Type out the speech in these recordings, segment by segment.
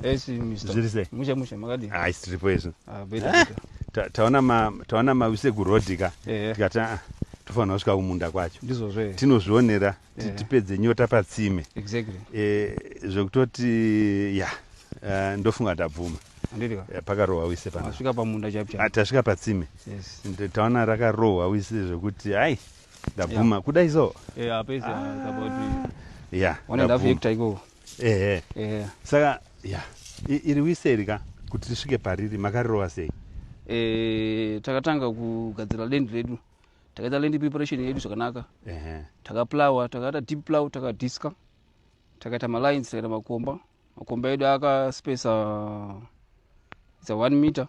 zvirise mushe mushe makadi ah isi tiripo izvi ah beta eh, beta taona ma taona ma wise ku road ka eh. tikata ah, tofanira kusvika kumunda kwacho ndizvozvo eh. tinozvionera tipedze nyota patsime exactly eh zvekutoti ya ndofunga ndabvuma pakarohwa wise panasvika pamunda chapi ah, tasvika patsime taona rakarohwa wise zvekuti ai ndabvuma kudai so ya yeah, ehe yeah. saka ya iri wise iri ka kuti tisvike pariri makarirova sei e, takatanga kugadzira land redu takaita land preparation yedu zvakanaka takaplowa takaita deep plow takadiska takaita malines takaita makomba makomba edu akaspesa its a one meter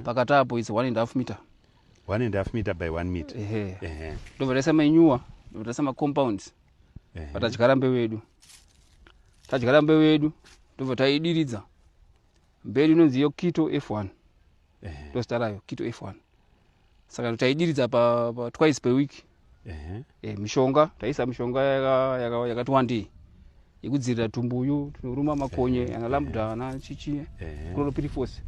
pakati apo its one and half meter one and half meter by one meter ndobva taisa manyuwa ndobva taisa macompounds patadyara mbeu yedu tadyara mbeu yedu tobva taidiridza mberi inonzi iyo kito f1 ndozita rayo kito f1 saka taidiridza pa, pa twice per week e, mishonga taisa mishonga yakati yaka, yaka wandei yekudzivirira tumbuyu tinoruma makonye ana lambda ana chichi chlorophyrifos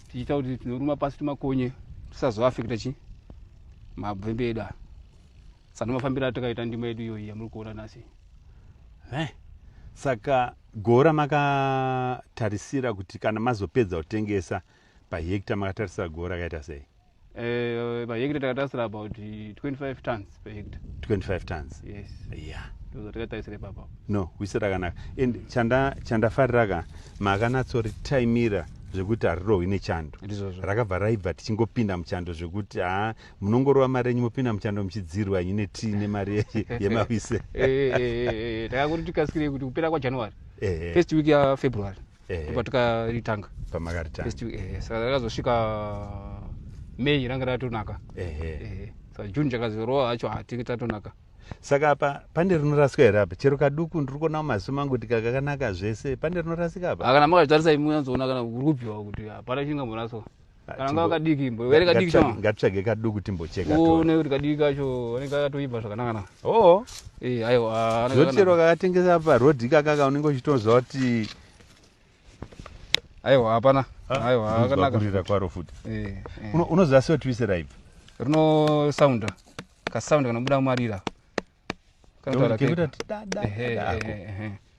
tichiita kuti tinoruma pasi tumakonye tisazoafekta chi mabvembe edu aya saka mafambiro atakaita ndima yedu iyoyi yamuri kuona nhasi eh, saka gora makatarisira kuti kana mazopedza kutengesa pahekta makatarisira gora akaita sei eh, pahekta takatarisira about 25 tons pahekta 25 tons yes yeah zvatakatarisira ipapa no wise rakanaka and chandafarira ka makanatsoritaimira zvekuti harirohwi nechando rakabva raibva tichingopinda muchando zvekuti haa munongorova mari yenyu mopinda muchando muchidziirwa henyu netii nemari yemavise takangoti tikasikirei kuti kupera kwajanuary first week yafebruary topa tikaritanga pamakaritangasa rakazosvika may ranga ratonaka sa june chakazorova hacho hatinge tatonaka saka apa pane rinorasika here apa chero kaduku ndiri kuona mumaziso mangu kuti kakakanaka zvese pane rinorasika apa kana makazvitarisa imuanzoona kana uri kubviwa kuti hapana chingamboraswa kana ngava kadiki imbo were kadiki chama ngatitsvage kaduku timbocheka to une kuti kadiki kacho anenge akatoimba zvakanaka na oh eh ayo ah, zvochero kakatengesa pa road kaka ka unenge uchitonzwa kuti ayo hapana ah, ayo akanaka kurira kwaro futi eh, eh. unoziva sio twise raive rino sound ka sound kana buda marira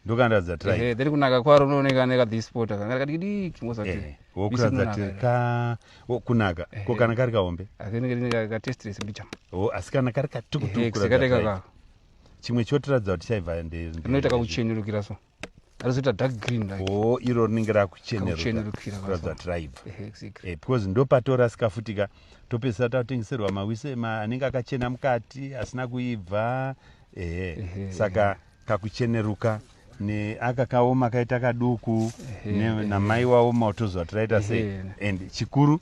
ndokandaradza then kunaka kwaro unooneka nekadhispota kanga kadikidiki wokuratidza tirika kunaka ko kana kari kahombe asi kana kari katukutukuchimwe chotiratidza kuti chaivha ndoita kakuchenurukira so arizoita dark green like oh iro rinenge rakuchenerukira raibva eh, because ndopatorasika futi ka topesera tatengeserwa mawise anenge akachena mukati asina kuibva ehe saka kakucheneruka neaka kaoma kaita kaduku namai waoma otozwa tiraita sei and chikuru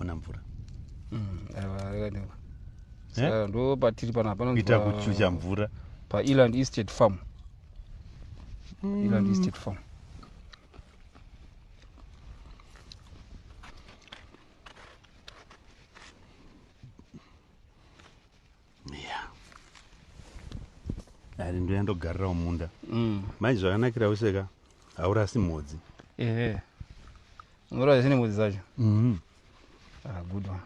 ona mvura mm, eh? ndo patiri pana panoita kuchucha mvura paeland estate farm mm. eland estate farm yeah. ari ndoya ndogarirawo munda mm. mai zvakanakira wese ka haurasi mhodzi ehe unorasa ne mhodzi dzacho mm-hmm. ah, good one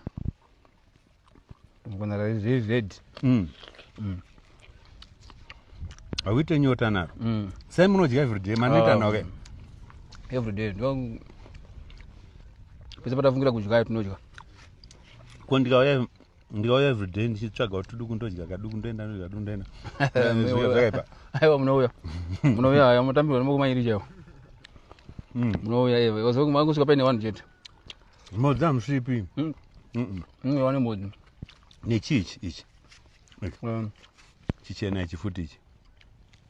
mukonara zviri red mm. mm. hauite nyota naro mm. sai munodya everyday manoita ah, noke everyday pese patafungira kudyayo tinodya kondikauya ndikauya everyday ndichitsvaga kuti duku ndodya kaduku ndoenda ndodya duku ndoenda zvakaipa aiwa munouya munouya aya mutambirwa nemokumairi chaiwo mm. munouya iwe wazokusvika paine vanhu chete mhodzi hamusvipi mm. iwe wane mhodzi nechii ichi ichi um. chichena ichi futi ichi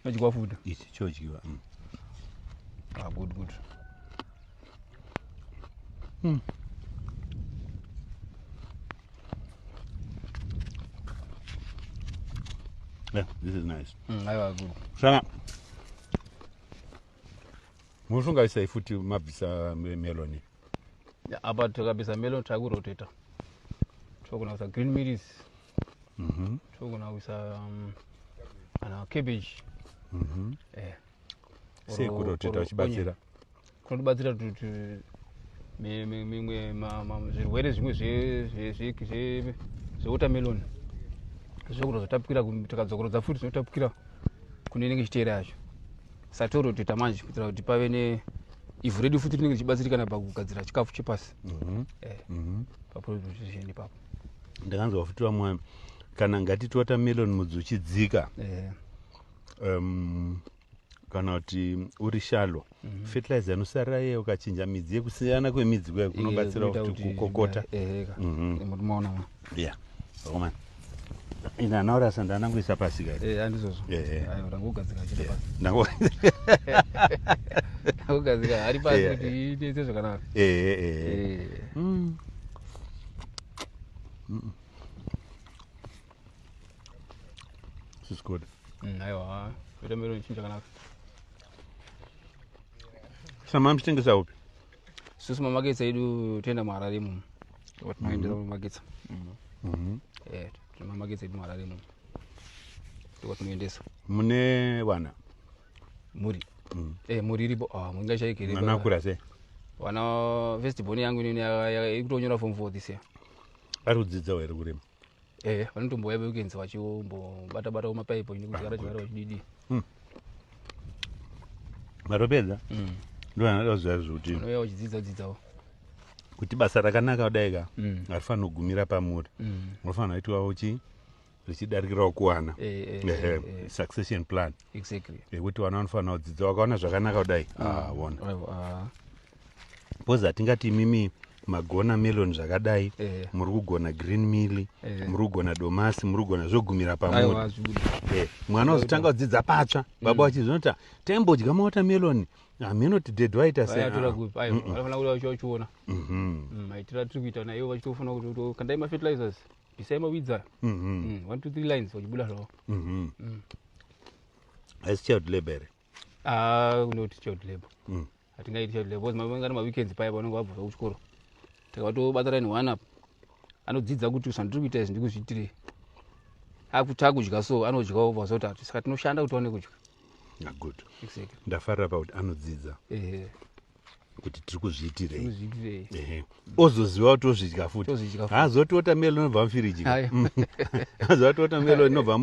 chodyiwa futi ichi chodyiwa mm. ah, good good mm. Yeah, this is nice. Mm, I was good. Shana. Mushunga isa ifuti mabisa meloni. Yeah, about to kabisa melon taguroteta. Chokuna kusa green meat is Mhm. togona kuisa um, kana cabbage Mhm. eh, or- sei kuda kuti or ita uchibatsira onion. kunotibatsira kuti kuti mi- mi- mimwe ma- ma- zvirwere zvimwe zve- zve- zve- zve- zvewatermelon zvekuda zvatapukira ku- tikadzokorodza futi zvinotapukira kune inenge ichiteera yacho satoro toita manje kuitira kuti pave ne ivhu redu futi rinenge richibatsirikana pakugadzira chikafu chepasi Mhm. eh, Mhm. paproduction ipapo ndakanzwa futi vamwana kana ngatiti watermelon mudzi uchidzika yeah. um, kana kuti uri shalo mm -hmm. fertilizer yanosarira yeye ukachinja midzi yekusiyana kwemidzi kuya kunobatsira kuti kukokota maona yeah. mm ina naura sanda anangoisa pasi kaiti eh, andizvozvo eh, eh. ndangogadzika ndangogadzika ari pasi kuti iite zvakanaka mm. Mm. This is good. Mm, aiwa, watermelon chinja kanaka. Sama mchitengesa upi? Sisi mamaketsa edu tenda muharare muno. Watinoendera mm-hmm. mamaketsa. Mm-hmm. Mm-hmm. Eh, mamaketsa edu muharare muno. Watinoendesa. Mune vana. mhuri mm. eh, mhuri iripo ah, inga chaikirianakura se wana first born yangu inini ikutonyora form four this year ari kudzidzawo here kurima eh vanotombouya vekuenzi vachimbobata bata kumapaipo ini kuti gara chigara vachididi hmm. matopedza hmm. ndovanadakuziva zvokuti uya uchidzidza dzidzawo kuti basa rakanaka kudai ka hmm. harifanira kugumira pamuri unofanira kuitwawo chii zvichidarikirawo kuwana eh, eh, eh, eh, eh. succession plan exactly yekuti vana vanofanira kudzidza wakaona zvakanaka kudai mm. ah, wona ah. bcause hatingati imimi magona melon zvakadai eh. muri kugona green mill eh. muri kugona domasi muri kugona zvogumira pamuri eh. mwana uzotanga kudzidza patsva mm. baba vachi zvinoti taimbodya mawota melon hameno tidhedhi waita seaaifanira kuti vachiona maitira tiri kuita nayo vachitofuna kuti kandai mafertilizers bvisai mawidzi aya Mhm. Mm, one two three lines wachibuda zvavo Mhm. Mm. haisi child labor here Ah, kunoti child labor Mm. hatingaiti child labor because mangana maweekends paya pavanenge vabva zvavo kuchikoro takabatobata line one up anodzidza kuti zvandiri kuita izvi ndikuzviitirei akuti akudya so anodyawo vazotatu saka tinoshanda kuti tiwane kudya Ah, good exactly ndafarira pakuti anodzidza ehe kuti tiri kuzviitirei ozoziva kuti ozvidya futi haazoti otamelon inobva mufiriji haazoti otamelon inobva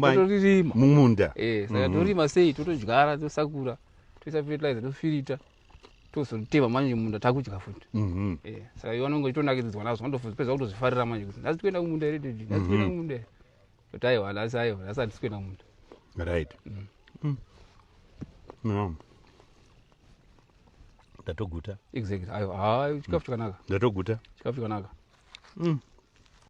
mumunda eh, saka mhm. torima sei totodyara tosakura toisa fertilizer tofirita tozotema manje munda takudya futi mhm. eh, saka iwe anonge itonakiridzwa nazvo andopedza kutozvifarira manje kuti ndazitoenda kumunda here dedi ndazitoenda mhm. kumunda here But I will, as I will, as I just going on. Right. Mm. Mm. No. Ndatoguta. Exactly. Ayo, ah, chikafu mm. chakanaka. Ndatoguta. Chikafu chakanaka. Mm.